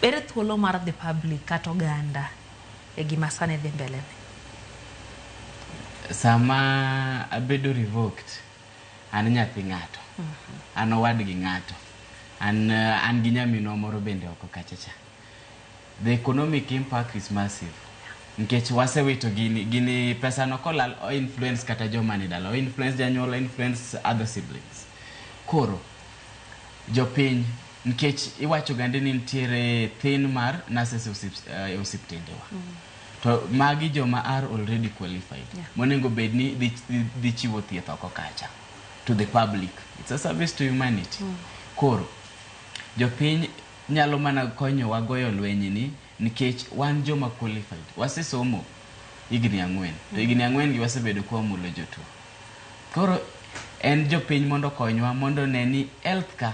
Ere thuolo mar dhi public kata oganda e gima sani dhi mbele ni? Sama abedo revoked, an nyathi ng'ato. An owad gi ng'ato. An, uh, an gi nyaminwa moro bende oko kacha cha. The economic impact is massive. Nikech wasewito gini, gini pesa no kolal o influence kata joma ni dala, o influence janyuol, o influence other siblings. Koro, jopiny Nkech iwacho gandi ni ntiere thin mar nurses e osiptendewa. Mm. To magi joma are already qualified. Yeah. Monengo bedni dhi, dhi, dhi chiwo thieth oko kacha. To the public. It's a service to humanity. Mm. Koro, jopiny nyalo mana konyowa goyo lwenyi ni nikech wan joma qualified wasesomo higni ang'wen to higni ang'wen gi wasebedo kwa mulo jotuo koro en jopiny mondo konywa mondo ne ni health ka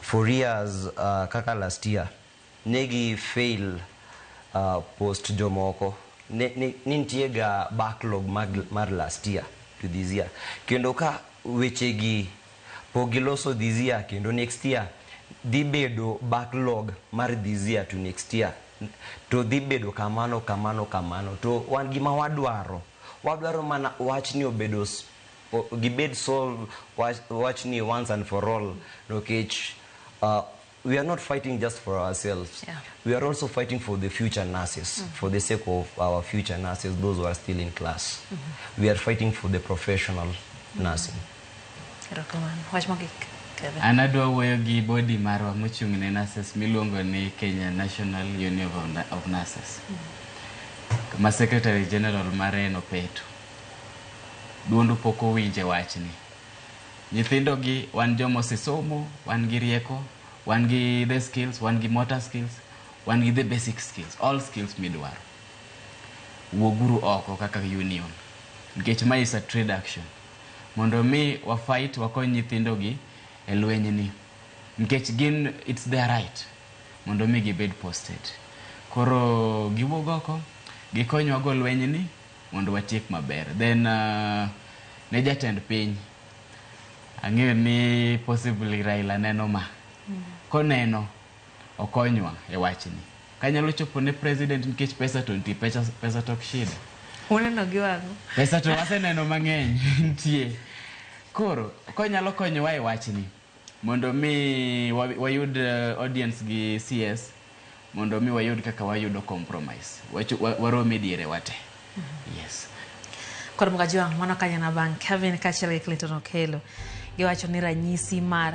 for years kaka last year ne gi fail post jomoko ne nitie ga backlog mar last year to this year kendo ka weche gi pok giloso this year kendo next year dhi bedo backlog mar this year to next year to dhi bedo kamano kamano kamano to wan gima wadwaro wadwaro mana wachni obedo o- gibed solve wach, wachni once and for all nikech uh, we are not fighting just for ourselves Yeah. we are also fighting for the future nurses for the sake of our future nurses those who are still in class we are fighting for the professional nursing Erokamano. Wach mogik. Kevin. An adwa wuoyo gi body marwa mochung' ne nurses miluongo ni Kenya National Union of Na- of Nurses. Ma Secretary General mare en Opeto. Duondu pok owinj e wachni. Nyithindogi wan joma osesomo, wan gi rieko, wan gi the skills, wan gi motor skills, wan gi the basic skills, all skills midwaro. Wuoguru oko kaka union nikech mae is a trade action mondo omi wa fight wakony nyithindogi e lwenyni nikech gin it's their right mondo omi gibed posted. Koro giwuog oko gikonywago lwenyni. mondo watiek maber then uh, ne jatend piny ang'eyo ni possibly Raila neno ma koneno okonywa e wachni kanyalo chopo ne president nikech pesa to nitie pesa, pesa tok shida Uneno gi wang'u. pesa to waseneno mang'eny nitie koro konyalo konyowa e wachni Mondo mi wayud audience gi CS, mondo mi wayud kaka wayudo compromise. Warom e diere wate. Yes. Kod Mkajwang' mano kanyana bang' Kevin kachiel gi Clinton Okelo giwacho ni ranyisi mar